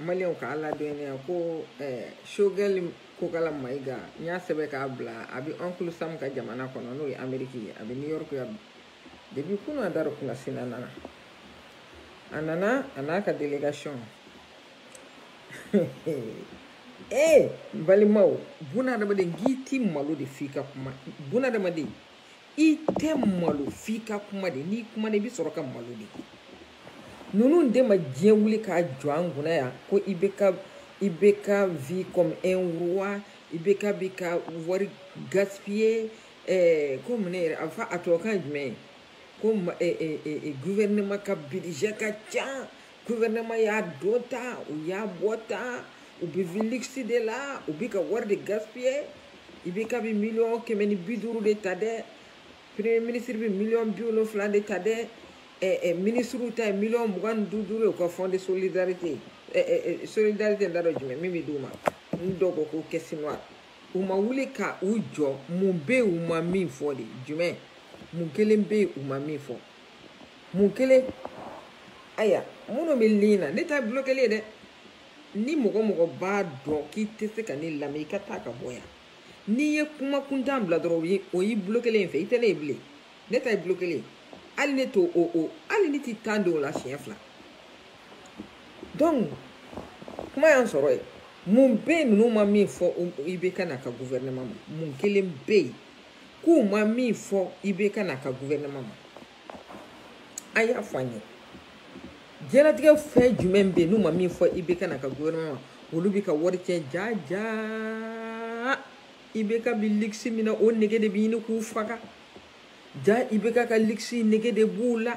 maliw k'a ladɔnniya ko sogɛli kokala mayiga n y'a sɛbɛn k'a bila a bɛ oncle sam ka jamana kɔnɔ n'o ye ameriki ye a bɛ new york yan depi kunu a dara kunna sina nana a nana a n'a ka delegation ee balimaw bunadamaden k'i ti malo de f'i ka kuma bunadamaden i tɛ malo f'i ka kuma de n'i kumana i bɛ sɔrɔ ka malo de ninnu de ma diɲɛ wuli k'a jɔ an kunna yan ko ibk bɛ ka vie comme un roi ibk bɛ ka wari gaspiller ɛɛ ko mun ne yɛrɛ a fɔ a tubabukan ye jumɛn ye ko gouvernement ka budget ka ca gouvernement y'a don tan u y'a bɔ tan u bɛ vie luxe de la u bɛ ka wari de gaspiller ibk bi miliyɔn kɛmɛ ni bi duuru de ta dɛ premier ministre bɛ miliyɔn bi wolonfila de ta dɛ eh, eh, ministriw ta ye miliyɔn mugan ni duuru ye u ka fonds de solidarité eh, eh, eh, solidarité n t'a dɔn jumɛn min bɛ d'u ma n dɔgɔ ko caisse noire u ma wuli ka u jɔ mun bɛ yen u ma min fɔ de jumɛn mun kelen bɛ yen u ma min fɔ mun kelen aya minnu bɛ ligne na ne ta ye bulokeli ye dɛ ni mɔgɔ mɔgɔ b'a dɔn k'i tɛ se ka ne lamɛn i ka taa ka bɔ yan n'i ye kuma kuntan bila dɔrɔn o y'i bulokelen ye fewu i tɛ ne ye bilen ne ta ye bulokeli ye hali ne t'o o o hali ne ti tan don o la siɲɛ fila donc kuma y'an sɔrɔ yen mun bɛ yen ninnu ma min fɔ ibk n'a ka gouvernement ma mun kelen bɛ yen k'u ma min fɔ ibk n'a ka guvɛrɛnɛma ma a y'a fɔ an ye diɲɛlatigɛ fɛn jumɛn bɛ yen n'u ma min fɔ ibk n'a ka guvɛrɛnɛma ma olu bɛ ka wari tiɲɛ jaa jaa ibk bi luxe min na o nege de bɛ ɲini k'u faga jaa ibk ka luxe nege de b'u la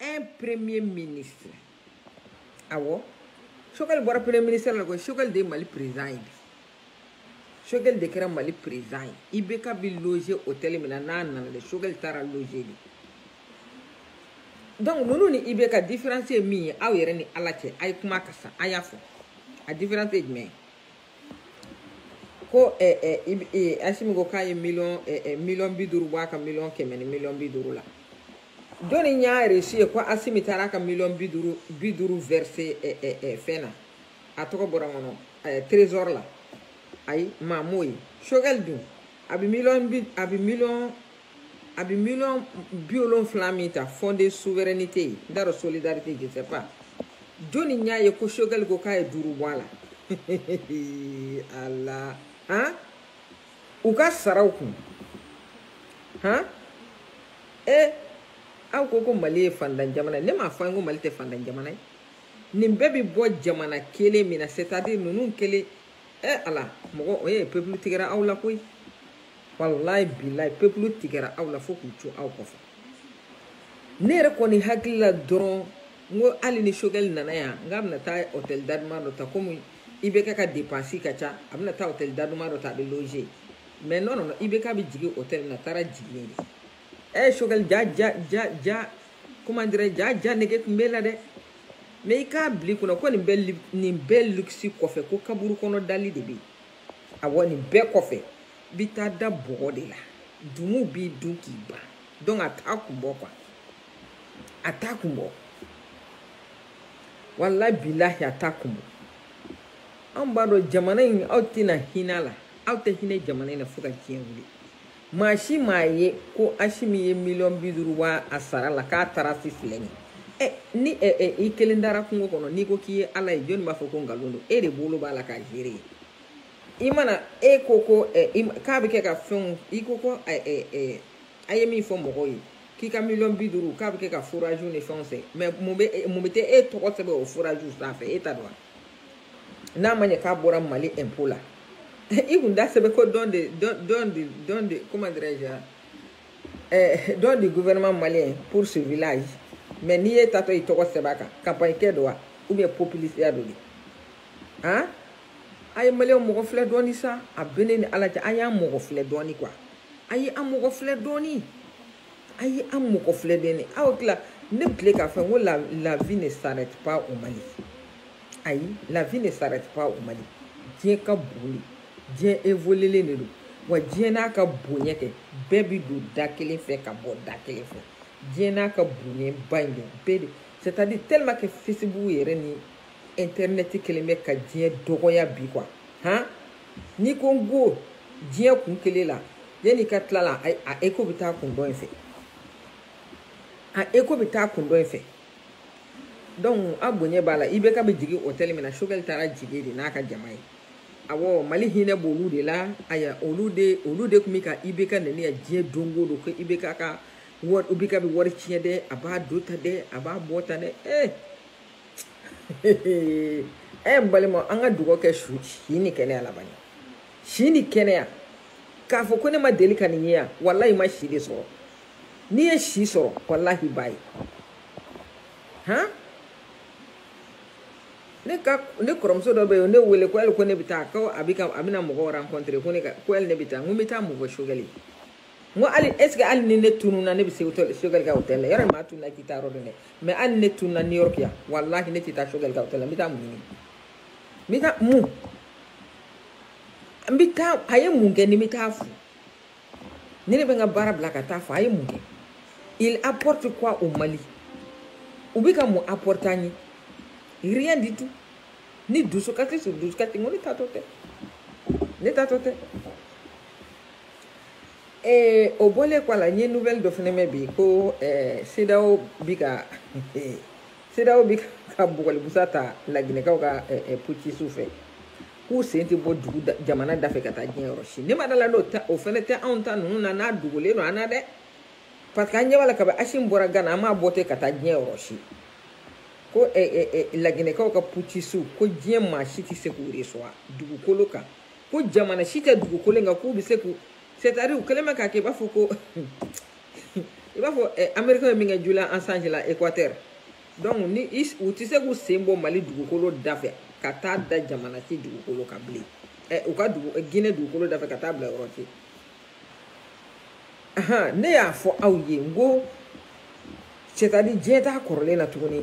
un premier ministre awɔ sogɛli bɔra premier ministre la koyi sogɛli de ye mali président ye bi sogɛli de kɛra mali président ye ibk bi loger hôtel min na n'a nana de sogɛli taara loger de donc ninnu ni ibk différence ye min ye aw yɛrɛ ni ala cɛ a ye kuma kɛ sa a y'a fɔ a différence ye jumɛn ye ko asimi ko k'a ye miliyɔn miliyɔn bi duuru bɔ a ka miliyɔn kɛmɛ ni miliyɔn bi duuru la jɔnni y'a resi ye ko asimi taara a ka miliyɔn bi duuru bi duuru vɛrise fɛn na a tɔgɔ bɔra n kɔnɔ trésor la ayi maa m'o ye sogɛli dun a bɛ miliyɔn bi a bɛ miliyɔn a bɛ miliyɔn bi wolonfila min ta fonds de souveraineté ye n t'a dɔn solidarité je sais pas jɔni y'a ye ko sogɛli ko k'a ye duuru bɔ a la ala han u ka saraw kun han e aw ko ko mali ye faantan jamana ye ne m'a fɔ an ko mali tɛ faantan jamana ye nin bɛɛ bɛ bɔ jamana kelen min na c'est à dire ninnu kelen e ala mɔgɔ e peuple tigɛra aw la koyi walayi bilayi peuple tigɛra aw la fo k'u co aw kɔfɛ ne yɛrɛ kɔni hakili la dɔrɔn n ko hali ni sogɛli nana yan n k'a bɛna taa hɔtɛli daduman dɔ ta komi IBK ka depansi ka ca a bɛna taa hɔtɛli daduman dɔ ta a bɛ loze mais non non non IBK bɛ jigin hɔtɛli na a taara jigin de ɛ sogɛli jaa jaa jaa jaa comment dirais je jaa nege tun b'e la dɛ mais i k'a bila i kunna ko nin bɛɛ nin bɛɛ luxe kɔfɛ ko kaburu kɔnɔ dali de bɛ yen awɔ nin bɛɛ kɔfɛ i bɛ taa da bɔgɔ de la tumuw b'i dun k'i ban donc a t'a kun bɔ quoi a t'a kun bɔ walayi bilahi a t'a kun bɔ anw b'a dɔn jamana in aw tɛna hinɛ a la aw tɛ hinɛ jamana in na fo ka diɲɛ wuli maa si m'a ye ko asimi ye miliyɔn bi duuru bɔ a sara la k'a taara si filɛ nin ɛ ni ɛ ɛ i kelen dara kungo kɔnɔ n'i ko k'i ye ala ye jɔnni b'a fɔ ko nkalon don e de bolo b'a la ka gere ye i mana e ko ko ɛ k'a bɛ kɛ ka fɛnw i ko ko ɛ ɛ ɛ a ye min fɔ mɔgɔw ye k'i ka miliyɔn bi duuru k'a bɛ kɛ ka foraziw ni fɛnw sen mais mun bɛ mun bɛ tɛ e tɔgɔ sɛbɛn o foraziw sanfɛ e ta don wa n'a ma ɲɛ k'a bɔra mali impôt la i kun da sɛbɛn ko don de don de don de comment dirais je eh, don du gouvernement malien pour ce village mais n'i ye tatɔ i tɔgɔ sɛbɛn a kan campagne kɛ don wa ou bien populisiya don de han a ye maliyɛnw mɔgɔ filɛ dɔɔni sa a bɛ ne ni ala cɛ a y'an mɔgɔ filɛ dɔɔni quoi a ye an mɔgɔ filɛ dɔɔni a ye an mɔgɔ filɛ dɔɔni aw tila ne bile k'a fɔ ko la la vie ne s'arrête pas au Mali ayi la vie ne s'arrête pas au Mali diɲɛ ka bon dɛ diɲɛ évoluelen de don wa diɲɛ n'a ka bonya kɛ bɛɛ bi don da kelen fɛ ka bɔ da kelen fɛ diɲɛ n'a ka bonyaba in de bɛɛ de c'est à dire tellement que Facebook yɛrɛ ni intɛrinɛti kɛlen bɛ ka diɲɛ dɔgɔya bi quoi han n'i ko n ko diɲɛ kun kelen la yanni i ka tila la a écho bɛ taa kun dɔ in fɛ a écho bɛ taa kun dɔ in fɛ donc a bonya b'a la IBK bɛ jigin hôtel min na sogɛli taara jigin de n'a ka jama ye awɔ mali hinɛ b'olu de la aya olu de olu de tun bɛ ka IBK neni yan diɲɛ don o don ko IBK ka wari IBK bɛ wari tiɲɛ dɛ a b'a don tan dɛ a b'a bɔ tan dɛ ee. Eh. ɛ n balima an ka dugawu kɛ su si ni kɛnɛya laban ye si ni kɛnɛya k'a fɔ ko ne ma deli ka nin ye yan walahi i ma si de sɔrɔ n'i ye si sɔrɔ walahi i b'a ye han ne ka ne kɔrɔmuso dɔ bɛ yen ne wele ko hali ko ne bɛ taa ko a bɛ ka a bɛna mɔgɔ rencontrer ko ne ka ko hali ne bɛ taa n ko n bɛ taa mɔgɔ sogɛli n ko hali est ce que hali ni ne tununa ne bɛ se sogɛli ka hôtel la yɔrɔ maa tununa k'i taa yɔrɔ dɔn dɛ mais hali ni ne tununa new york yan walahi ne tɛ taa sogɛli ka hôtel la n bɛ taa mun ɲini n bɛ taa mun n bɛ taa a ye mun kɛ ni n bɛ taa fo ne de bɛ n ka baara bila ka taa fo a ye mun kɛ il apporte quoi au mali u bɛ ka mun apporter an ye rien du tout ni dusukasi sur dusukasi n ko ne taatɔ tɛ ne taatɔ tɛ ee o bɔlen kɔ a la n ye nouvelle dɔ fana mɛn bi ko ɛɛ CEDEAO bi ka CEDEAO bi ka bugɔlibusa ta laginɛkaw ka ɛɛ putschistes fɛ k'u sen tɛ bɔ dugu da jamana da fɛ ka taa diɲɛ yɔrɔ si ne ma da la n'o ta o fana tɛ anw ta ninnu na n'a dogolen don an na dɛ parce que an ɲɛ b'a la kabi asimi bɔra gana an m'a bɔ ten ka taa diɲɛ yɔrɔ si ko ɛɛ ɛɛ laginɛkaw ka putschistes ko diɲɛ maa si tɛ se k'u recevoir dugukolo kan. ko jamana si tɛ dugukolo in kan k'u bɛ se k'u c'est à dire u kɛlen bɛ k'a kɛ i b'a fɔ ko i b'a fɔ eh, amerikɛn ye min kɛ julian assange la équateur donc ni u tɛ se k'u sen bɔ mali dugukolo da fɛ ka taa da jamana si dugukolo kan bilen eh, u ka dugu eh, guinée dugukolo da fɛ ka taa bila yɔrɔ si ahan ne y'a fɔ aw ye n ko c'est à dire diɲɛ t'a kɔrɔlen na tuguni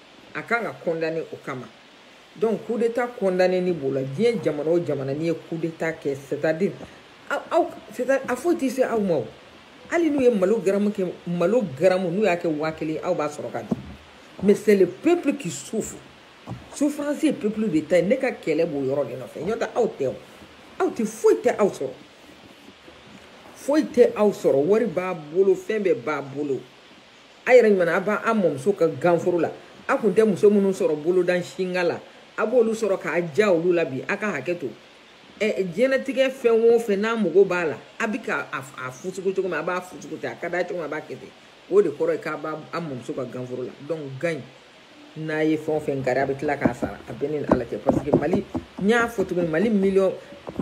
a kan ka condamné o kama donc coup d'état condamné ni b'o la diɲɛ jamana o jamana n'i ye coup d'état kɛ c'est à dire aw c'est à dire a foyi tɛ se aw ma o hali n'u ye malo garamu kɛ malo garamu n'u y'a kɛ waa kelen aw b'a sɔrɔ ka dun mais c'est le peuple qui souffre souffrance ye peuple de ta ye ne ka kɛlɛ b'o yɔrɔ de nɔfɛ n'o tɛ aw tɛ o aw tɛ foyi tɛ aw sɔrɔ foyi tɛ aw sɔrɔ wari b'a bolo fɛn bɛɛ b'a bolo a yɛrɛ ɲuman a b'a mɔmuso ka ganforo la a tun tɛ muso minnu sɔrɔ bolodan singa la a b'olu sɔrɔ k'a ja olu la bi a ka hakɛ to ɛ diɲɛlatigɛ fɛn o fɛn n'a mago b'a la a bɛ ka a fusugu cogo min a b'a fusugu ten a ka d'a cogo min a b'a kɛ ten o de kɔrɔ ye k'a b'a mɔmuso ka ganforo la donc gan n'a ye fɛn o fɛn kari a bɛ tila k'a sara a b'a ni ala cɛ parce que mali n y'a fɔ cogo min mali miliyɔn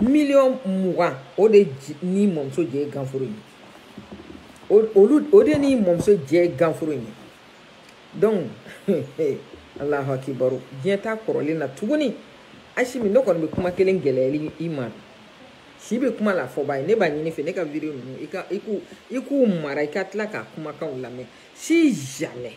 miliyɔn mugan o de ni mɔmuso jɛ ye ganforo ye olu o de ni mɔmuso jɛ ye ganforo ye donc alahu akibaru diɲɛ t'a kɔrɔlen na tuguni asimi ne kɔni bɛ kuma kelen gɛlɛya i ma si bɛ kuma la fɔbaa ye ne b'a ɲini i fɛ ne ka vidéo ninnu i ka i k'u i k'u mara i ka tila k'a kumakanw lamɛn si jamais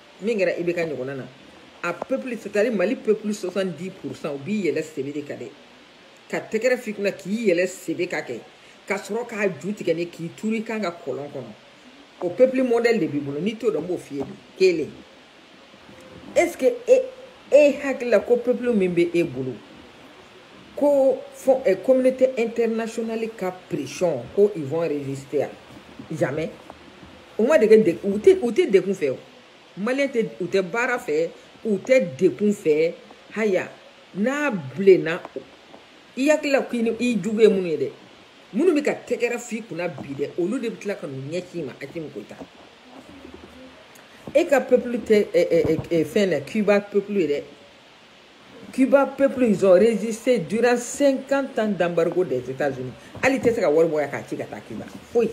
min kɛra IBK ɲɔgɔnna na a peuple c'est à dire mali peuple 70 pourcent u b'i yɛlɛ sebe de kan dɛ ka tɛgɛrɛ f'i kunna k'i yɛlɛ sebe kan kɛ ka sɔrɔ k'a ju tigɛ ni k'i turu i kan kan kɔlɔn kɔnɔ o peuple modèle de b'i bolo n'i t'o dɔn n b'o f'i ye bi kelen est ce que e e hakili la ko peuple min bɛ e bolo ko fo eh, communauté internationale ka pression ko ils vont résister à jamais u ma dege de u tɛ u tɛ degun fɛ o maliyɛn tɛ u tɛ baara fɛ u tɛ degun fɛ haya n'a bilenna i hakili la k'i ni i jugu ye minnu ye dɛ minnu bɛ ka tɛgɛrɛ f'i kunna bi dɛ olu de bɛ tila ka n'u ɲɛsin i ma Asimi Goïta e ka peuple tɛ ɛ ɛ ɛ fɛn na Cuba peuple ye dɛ Cuba peuple ils ont résisté durant 50 ans d'embargo des États-Unis hali i tɛ se ka wari bɔ yan k'a ci ka taa Cuba foyi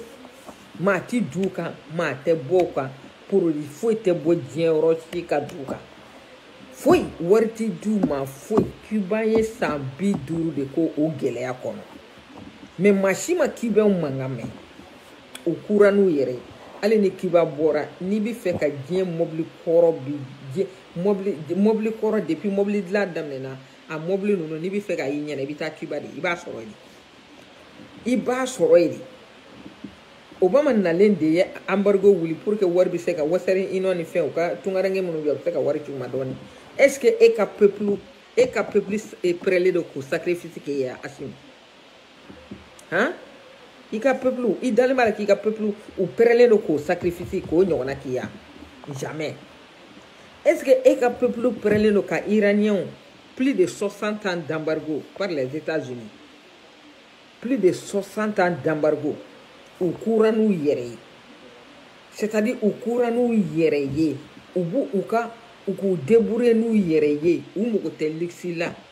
maa ti du u kan maa tɛ bɔ u kan produit foyi tɛ bɔ diɲɛ yɔrɔ si ka du u kan foyi wari ti d'u ma foyi Cuba ye san bi duuru de kɛ o gɛlɛya kɔnɔ mais maa si ma Cubaw mankan mɛn u kura n'u yɛrɛ ye hali ni Cuba bɔra n'i bɛ fɛ ka diɲɛ mɔbili kɔrɔ bi diɲɛ mobili kɔrɔ depuis mobili dilan daminɛna a mobili ninnu n'i bɛ fɛ k'a y'i ɲɛ na i bɛ taa Cuba de i b'a sɔrɔ yen i b'a sɔrɔ yen de Obama nalen de ye embargo wuli pour que wari bɛ se ka Western Union ni fɛn u ka tungaranke minnu bɛ yen u bɛ se ka wari ci u ma dɔɔni est ce que e ka peuple e ka peuple prêtlen don k'o sacrifice kɛ yan Asimi. han i ka peuple i dalen b'a la k'i ka peuple u pɛrɛlen don k'o sacrifice k'o ɲɔgɔnna kɛ yan jamais est ce que e ka peuple pɛrɛlen don ka iraniens plus de 60 ans d'embargo par les états unis plus de 60 ans d'embargo u kura n'u yɛrɛ ye c'est à dire u kura n'u yɛrɛ ye u b'u u ka u k'u débrouiller n'u yɛrɛ ye u mago tɛ luxe la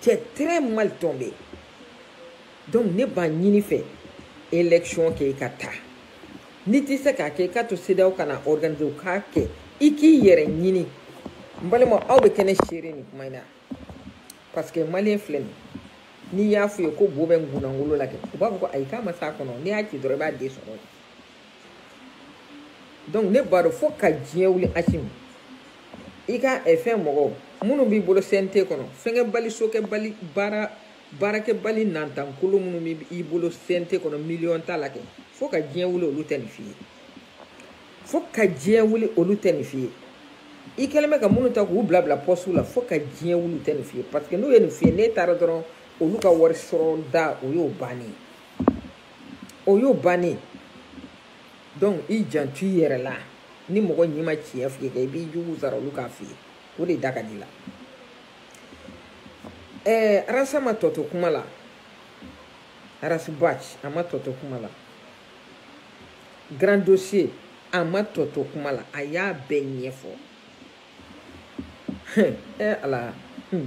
tu es très mal tombé donc ne b'a ɲini i fɛ élection kɛ i ka taa n'i tɛ se k'a kɛ i k'a to CEDEAO ka n'a organiser u k'a kɛ i k'i yɛrɛ ɲini n balima aw bɛ kɛ ne seere nin kuma in na parce que maliyɛn filɛ nin n'i y'a f'u ye ko bo bɛ nkunankolo la kɛ u b'a fɔ ko ayi k'a ma s'a kɔnɔ n'i y'a ci dɔrɔn i b'a den sɔrɔ yen donc ne b'a dɔn fo ka diɲɛ wuli Asimi i ka eh, fɛn mɔgɔw minnu b'i bolo cnt kɔnɔ fɛnkɛbali sokɛbali baara baarakɛbali nantankolo minnu b'i bolo cnt kɔnɔ miliyɔn tala kɛ fo ka diɲɛ wuli olu tɛ nin f'i ye fo ka diɲɛ wuli olu tɛ nin f'i ye i kɛlen bɛ ka minnu ta k'u bila bila pɔsiw la fo ka diɲɛ wuli tɛ nin f'i ye parce que n'u ye nin f'i ye n'e taara dɔrɔn olu ka wari sɔrɔ da o y'o bannen ye o y'o bannen donc i janto i yɛrɛ la ni mɔgɔ ɲi ma tiɲɛ f'i ye i b'i jugu sara olu k'a f'i ye o de da ka di la ɛɛ Ras a ma tɔ to kuma la Ras Bath a ma tɔ to kuma la grand dossier a ma tɔ to kuma la a y'a bɛɛ ɲɛfɔ ɛɛ ala hmm.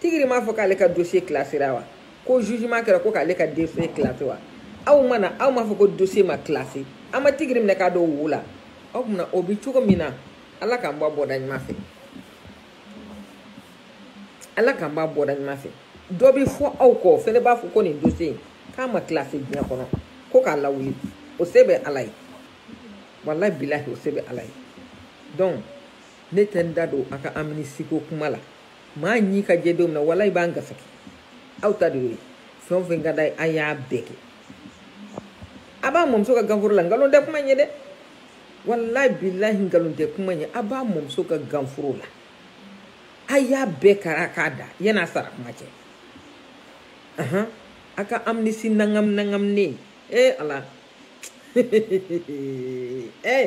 tigiri m'a fɔ k'ale ka dossier classéra wa ko jugement kɛra ko k'ale ka dossier classé wa aw mana aw m'a fɔ ko dossier ma classé an ma tigiri minɛ k'a don wo la aw tuma o bɛ cogo min na ala k'an bɔ a bɔda ɲuman fɛ ala k'an b'a bɔda ɲuman fɛ dɔ bɛ fɔ aw kɔ o fana b'a fɔ ko nin dossier in k'a ma classé diɲɛ kɔnɔ ko k'a lawuli o se bɛ ala ye walayi bilahi o se bɛ ala ye donc ne tɛ n da don a ka amnistie ko kuma la maa ɲi ka jɛ don min na walayi b'an gasaki aw ta de y'o ye fɛn o fɛn ka d'a ye a y'a bɛɛ kɛ a b'a mɔmuso ka ganforo la nkalon tɛ kuma ɲɛ dɛ walayi bilahi nkalon tɛ kuma ɲɛ a b'a mɔmuso ka ganforo la a y'a bɛɛ kara k'a da yan'a sara kuma cɛ ahan a ka amnistie ɲagami ɲagaminen ee ala ee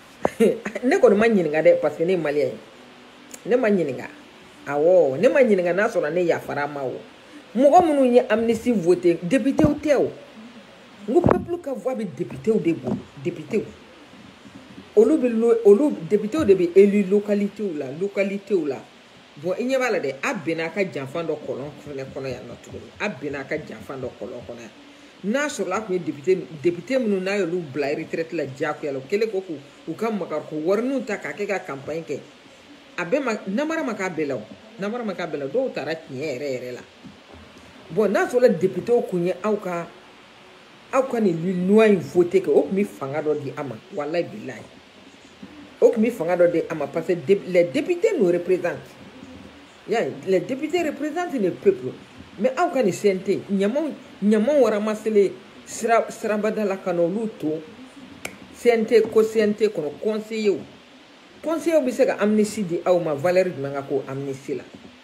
ne kɔni ma ɲininka dɛ parce que ne ye malien ye ne ma ɲininka awɔ ne ma ɲininka n'a sɔrɔ ne yafara ma o mɔgɔ minnu ye amnistie voté depitew tɛ o n ko peuple ka voix bɛ depitew de bolo depitew olu bɛ olu depitew de bɛ élu localitew la localitew la bon i ɲɛ b'a la dɛ a binna a ka janfan dɔ kɔlɔn fɛnɛ kɔnɔ yan nɔ tuguni a binna a ka janfan dɔ kɔlɔn kɔnɔ yan n'a sɔrɔla a tun ye depite depite minnu n'a y'olu bila retraite la diyagoya la o kɛlen ko k'u u ka magariko wariniw ta k'a kɛ ka campagne kɛ a bɛɛ ma namara ma k'a bɛɛ la o namara ma k'a bɛɛ la dɔw taara tiɲɛ yɛrɛ yɛrɛ la bon n'a sɔrɔla depitew kun ye aw ka aw ka nin loi in voté kɛ o tun bɛ fanga dɔ di a ma walayi bilayi o tun bɛ fanga dɔ di a ma parce que les députés nous représentent y'a ye les députés représentent le peuple mais aw ka nin CNT ɲamaɲamaw ramasselen sira sirabada la ka n'olu to CNT ko CNT kɔnɔ conseillers conseillers bɛ se ka amnistie di aw ma valeur jumɛn ka k'o amnistie la.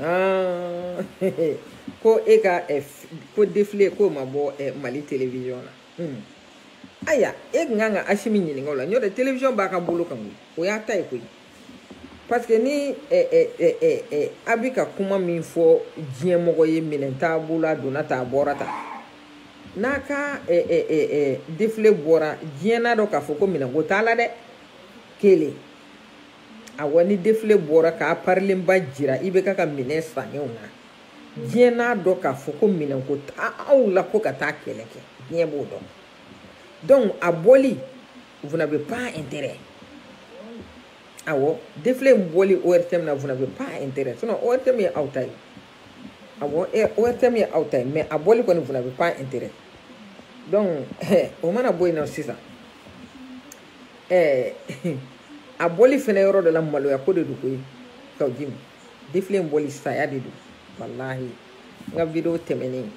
Ah, ko e ka eh, ko défilé k'o ma bɔ eh, Mali télévision na hmm. aya e tun kan ka Asimi ɲininka o la n'o tɛ télévision b'a ka bolo kan koyi o y'a ta ye koyi parce que ni eh, eh, eh, eh, eh, a bɛ ka kuma min fɔ diɲɛ mɔgɔ ye minɛn t'a bolo a donna ta a bɔra ta n'a ka eh, eh, eh, eh, défilé bɔra diɲɛ n'a dɔn k'a fɔ ko minɛnko t'a la dɛ kelen awɔ ni defile bɔra k'a parilenba jira IBK ka minɛn sannenw na diɲɛ n'a dɔn k'a fɔ ko minɛnko t'aw la ko ka taa kɛlɛ kɛ diɲɛ b'o dɔn donc a bɔli vous n'avez pas intérêt awɔ defile in bɔli ORTM na vous n'avez pas intérêt sinon ORTM ye aw ta ye awɔ ORTM ye aw ta ye mais a bɔli kɔni vous n'avez pas intérêt donc o mana bɔ yen nɔ sisan ɛɛ eh, a bɔli fɛnɛ yɔrɔ dɔ la maloya ko de don koyi Kaou Djim defile in bɔli saya de don walahi n ka video tɛmɛnen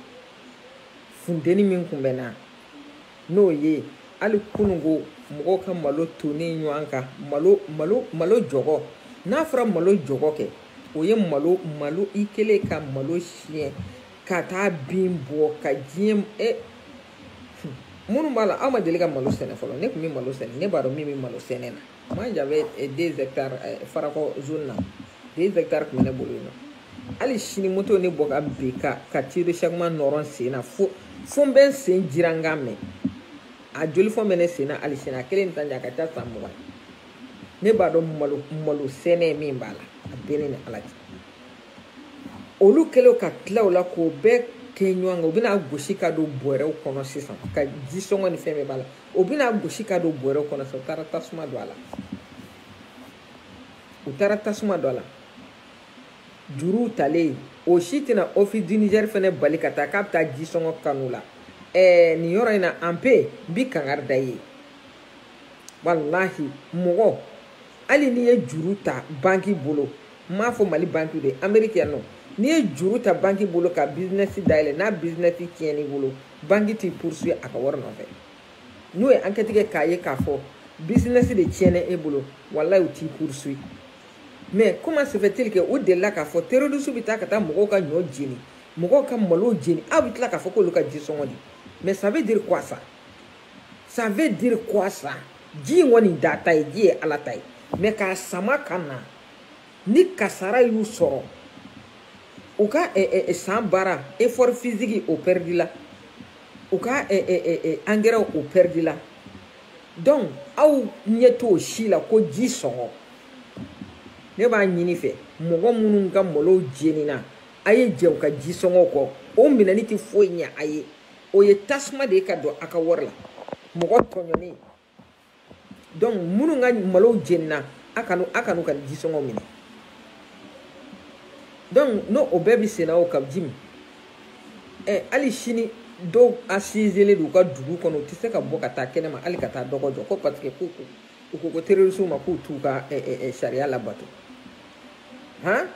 funteni min kun bɛ n na n'o ye hali kununko mɔgɔw ka malo tonnen ɲɔgɔn kan malo malo malo jɔgɔ n'a fɔra malo jɔgɔ kɛ o ye malo malo i kɛlen ka malo siyɛn ka taa bin bɔ ka diɲɛ e minnu b'a la aw ma deli ka malo sɛnɛ fɔlɔ ne tun bɛ malo sɛnɛ ne b'a dɔn min bɛ malo sɛnɛ na moi j'avais eh, deux hectares eh, farakɔ zone na deux hectares tun bɛ ne bolo yen nɔ hali sini moto ne bɔ ka bin ka ka tuyau échappement nɔrɔ n sen na fo fo n bɛ n sen jira n ka mɛn a joli fɔn bɛ ne sen na hali sini a kɛlen bɛ taa ɲɛ a ka ca san mugan ne b'a dɔn malo malo sɛnɛ min b'a la a bɛ ne ni ala cɛ olu kɛlen ka tila o la k'o bɛɛ kɛ ɲɔgɔn kan u bɛna gosi ka don bɔrɛw kɔnɔ sisan ka ji sɔngɔ ni fɛn bɛɛ b'a la o bɛna gosi ka don bɔrɛw kɔnɔ sisan u taara tasuma don a la u taara tasuma don a la juruw talen o si tɛna office du Niger fɛnɛ bali ka taa k'a bɛ taa ji sɔngɔ kani u la ɛɛ nin yɔrɔ in na an pe n bi kangari da ye walahi mɔgɔ hali n'i ye juru ta banki bolo n m'a fɔ mali banki de ameriki yan nɔ n'i ye juru ta banki bolo ka bizinɛsi dayɛlɛ n'a bizinɛsi tiɲɛn'i bolo banki t'i poursuivre a ka wari nɔfɛ n'o ye ankɛti kɛ k'a ye k'a fɔ bizinɛsi de tiɲɛna e bolo walayi u t'i poursuivre mais comment se fait-il que u delila k'a fɔ terrorisiw bɛ taa ka taa mɔgɔw ka ɲɔ jeni mɔgɔw ka malow jeni aw bɛ tila k'a fɔ k'olu ka jisɔngɔ di mais ça veut dire quoi ça ça veut dire quoi ça ji in kɔni t'aw ta ye ji ye ala ta ye mais k'a sama ka na ni kasara y'u sɔrɔ u ka eh, eh, eh, san baara effort physique o pɛridila u ka angɛrɛw o pɛridila donc aw ɲɛ t'o si la ko ji sɔngɔ ne b'a ɲini fɛ mɔgɔ minnu ka malow jenina a ye jɛn u ka ji sɔngɔ kɔ o minɛni tɛ foyi ɲɛ a ye o ye tasuma de ye ka don a ka wari la mɔgɔ tɔɲɔni donc minnu ka malow jenina a kan'u a kan'u ka jisɔngɔ minɛ donc n'o o bɛɛ bɛ senna o kawjim ɛ hali sini dɔw asizelen don u ka dugu kɔnɔ u tɛ se ka bɔ ka taa kɛnɛma hali ka taa dɔgɔ jɔ ko parce que k'u u ko ko terrorisiw ma k'u t'u ka ɛ ɛ sariya labato han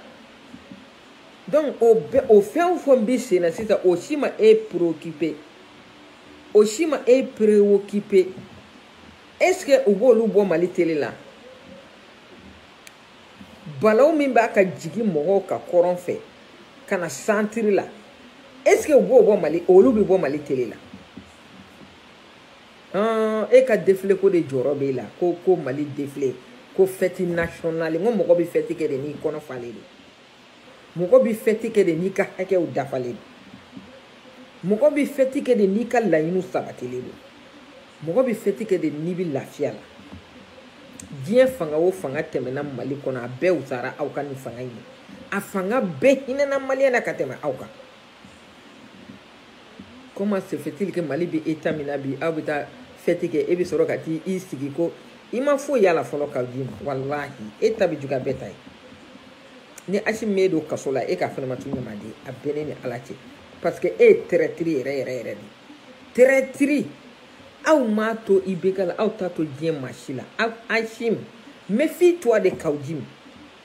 donc o bɛɛ o fɛn o fɛn bɛ senna sisan o si ma e préoccupé o si ma e préoccupé est ce que u b'olu bɔ mali tele la balaw min b'a ka jigin mɔgɔw kan kɔrɔn fɛ ka na santiri la est ce que u b'o bɔ mali olu bɛ bɔ mali tele la hɔn e ka defile ko de jɔrɔ b'e la ko ko mali defile ko fɛti nasiyɔnali n ko mɔgɔ bɛ fɛti kɛ de n'i kɔnɔ falen de mɔgɔ bɛ fɛti kɛ de n'i ka hakɛw dafalen don mɔgɔ bɛ fɛti kɛ de n'i ka laɲiniw sabatilen don mɔgɔ bɛ fɛti kɛ de n'i bɛ lafiya la diɲɛ fanga o fanga tɛmɛna mali kɔnɔ a bɛɛ wusara aw ka nin fanga in ye a fanga bɛɛ hinɛna maliyɛn na ka tɛmɛ aw kan comment se fait-il que mali bɛ état min na bi aw bɛ taa fɛti kɛ e bɛ sɔrɔ ka t'i i sigi ko i ma foyi y'a la fɔlɔ kawjim walahi e ta bɛ juguya bɛɛ ta ye ni asimi m'e don kaso la e ka fɛnɛ ma tu ɲuman di a bɛ ne ni ala cɛ parce que e ye traître yɛrɛ yɛrɛ yɛrɛ de traître aw m'a to IBK la aw t'a to diɲɛ maa si la aw asimi méfie-toi de kawjim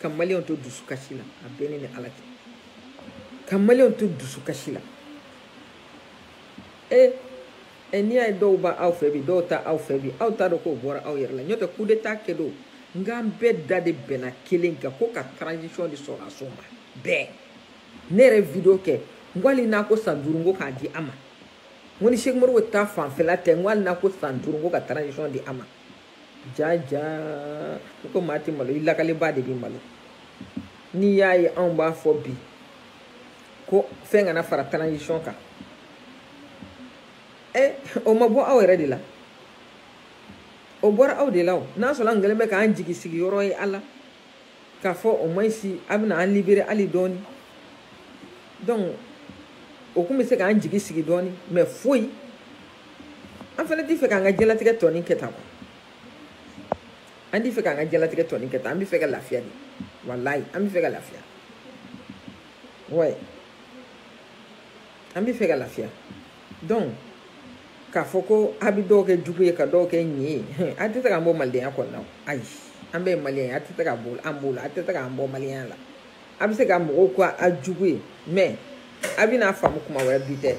ka maliyɛnw to dusukasi la a bɛ ne ni ala cɛ ka maliyɛnw to dusukasi la e e n'i y'a ye dɔw b'aw fɛ bi dɔw t'aw fɛ bi aw t'a dɔn k'o bɔra aw yɛrɛ la n'o tɛ kudeta kɛ don n k'an bɛɛ da de bɛnna kelen kan ko ka transition di sɔrɔdasiw ma bɛɛ ne yɛrɛ video kɛ n ko hali n'a ko san duuru n ko k'a di a ma n ko ni sɛki umaru keyita fanfɛla tɛ n ko hali n'a ko san duuru n ko ka transition di a ma jaa jaa i ko maa tɛ malo i lakalibaa de bɛ malo n'i y'a ye anw b'a fɔ bi ko fɛn kana fara transition kan ɛ eh, o ma bɔ aw yɛrɛ de la o bɔra aw de la o n'a sɔrɔ an kɛlen bɛ k'an jigi sigi yɔrɔ ye a la k'a fɔ o ma si a bɛna an libérer hali dɔɔni donc o tun bɛ se k'an jigi sigi dɔɔni mais foyi an fana tɛ fɛ k'an ka diɲɛlatigɛ tɔnin kɛ tan an tɛ fɛ k'an ka diɲɛlatigɛ tɔnin kɛ tan an bɛ fɛ ka lafiya de walayi an bɛ fɛ ka lafiya ouais an bɛ fɛ ka lafiya donc k'a fɔ ko a bɛ dɔw kɛ jugu ye ka dɔw kɛ ɲin ye a tɛ se k'an bɔ malidenya kɔnɔna ayi an bɛɛ ye maliyɛn ye a tɛ se ka bɔ an b'o la a tɛ se k'an bɔ maliyɛnya la a bɛ se ka mɔgɔw ko a jugu ye mɛ a bɛna a faamu kuma wɛrɛ bi tɛ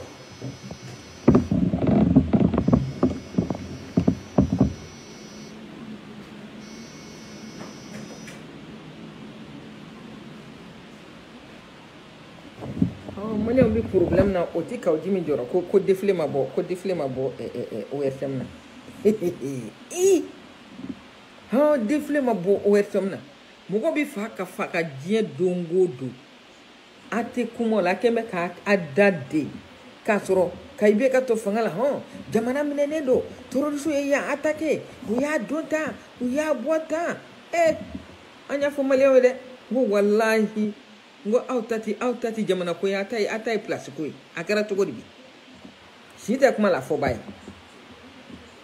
maliyɛnw bɛ porobilɛmu na o ti kaw jimi jɔrɔ ko ko defile ma bɔ ko defile ma bɔ ortm na ii hɔn defile ma bɔ ortm na mɔgɔ bɛ faga ka tiɲɛ don o don a tɛ kuma o la a kɛn bɛ ka a da de k'a sɔrɔ ka i bɛ ka to fanga la hɔn jamana minɛnen don tɛrorisiw ye yan atake u y'a don tan u y'a bɔ tan ee an y'a fɔ maliyɛnw ye dɛ n ko walahi n ko aw ta tɛ aw ta tɛ jamana ko ye a ta ye a ta ye pilasi ko ye a kɛra cogo di bi si tɛ kuma la fɔba ye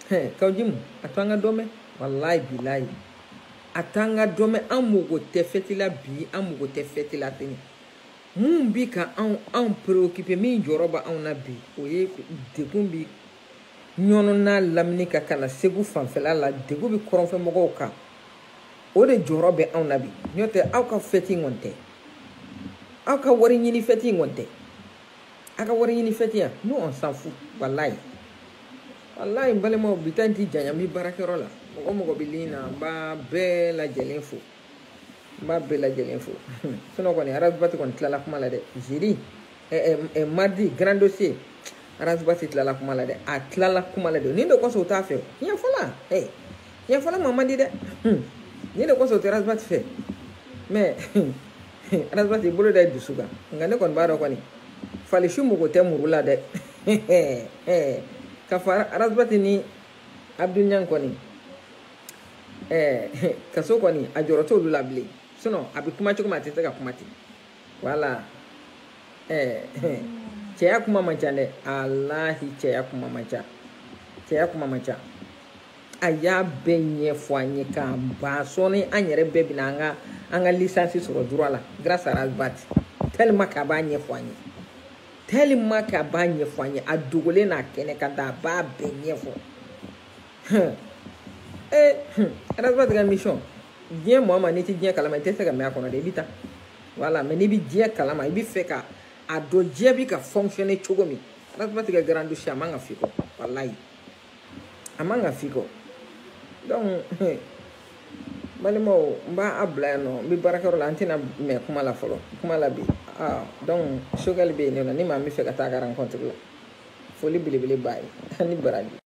hɛn kaw jimu a to an ka dɔ mɛn walahi bilahi a t'an ka dɔ mɛn an mago tɛ fɛti la bi an mago tɛ fɛti la sini min bi ka anw anw preokipe min jɔrɔ bɛ anw na bi o ye degun bi ɲɔnɔ n'a lamini ka ka na segu fanfɛla la degun bi kɔrɔnfɛ mɔgɔw kan o de jɔrɔ bɛ anw na bi n'o tɛ aw ka fɛti in kɔni tɛ aw ka wari ɲini fɛti in kɔni tɛ a ka wari ɲini fɛti yan nous on s'en fout walayi walayi n balimaw bi ta in ti janya n bi baarakɛyɔrɔ la mɔgɔ mɔgɔ bɛ lin na n b'a bɛɛ lajɛlen fo n b'a bɛɛ lajɛlen fo sinɔn kɔni arasibati kɔni tilala kuma la dɛ jeudi mardi grand dossier arasibati tilala kuma la dɛ a tilala kuma la dɛ nin de kɔsɔn o t'a fɛ tiɲɛ fɔla ɛ tiɲɛ fɔla ma man di dɛ nin de kɔsɔn o tɛ arasibati fɛ mɛ arasibati bolo da dusu kan nka ne kɔni b'a dɔn kɔni fali su mago tɛ muru la dɛ ka fara arasibati ni abudul niang kɔni kaso kɔni a jɔrɔ t'olu la bilen sinɔn a bɛ kuma cogo min a tɛ se ka kuma ten wala cɛya kuma man ca dɛ alahi cɛya kuma man ca cɛya kuma man ca a y'a bɛɛ ɲɛfɔ an ye k'a ban sɔɔni an yɛrɛ bɛɛ bɛna an ka an ka lisansi sɔrɔ droit la grâce à Razbat tellement k'a b'a ɲɛfɔ an ye tellement k'a b'a ɲɛfɔ an ye a dogolen n'a kɛnɛkanda a b'a bɛɛ ɲɛfɔ hum ee hum Razbat ka émission diɲɛ maa ma n'i tɛ diɲɛ kalama i tɛ se ka mɛn a kɔnɔ dɛ i bɛ taa voilà mais n'i bɛ diɲɛ kalama i bɛ fɛ ka a dɔn diɲɛ bɛ ka fonctionner cogo min Razbat ka grand dossier a man ka f'i kɔ walayi. a man ka f'i kɔ donc balimaw n b'a bila yan nɔ n bɛ baarakɛyɔrɔ la an tɛna mɛn kuma la fɔlɔ kuma la bi ah, donc Choguel bɛ yen nɔ ni maa min bɛ fɛ ka taa ka rencontre la foli belebele b'a ye ani baraji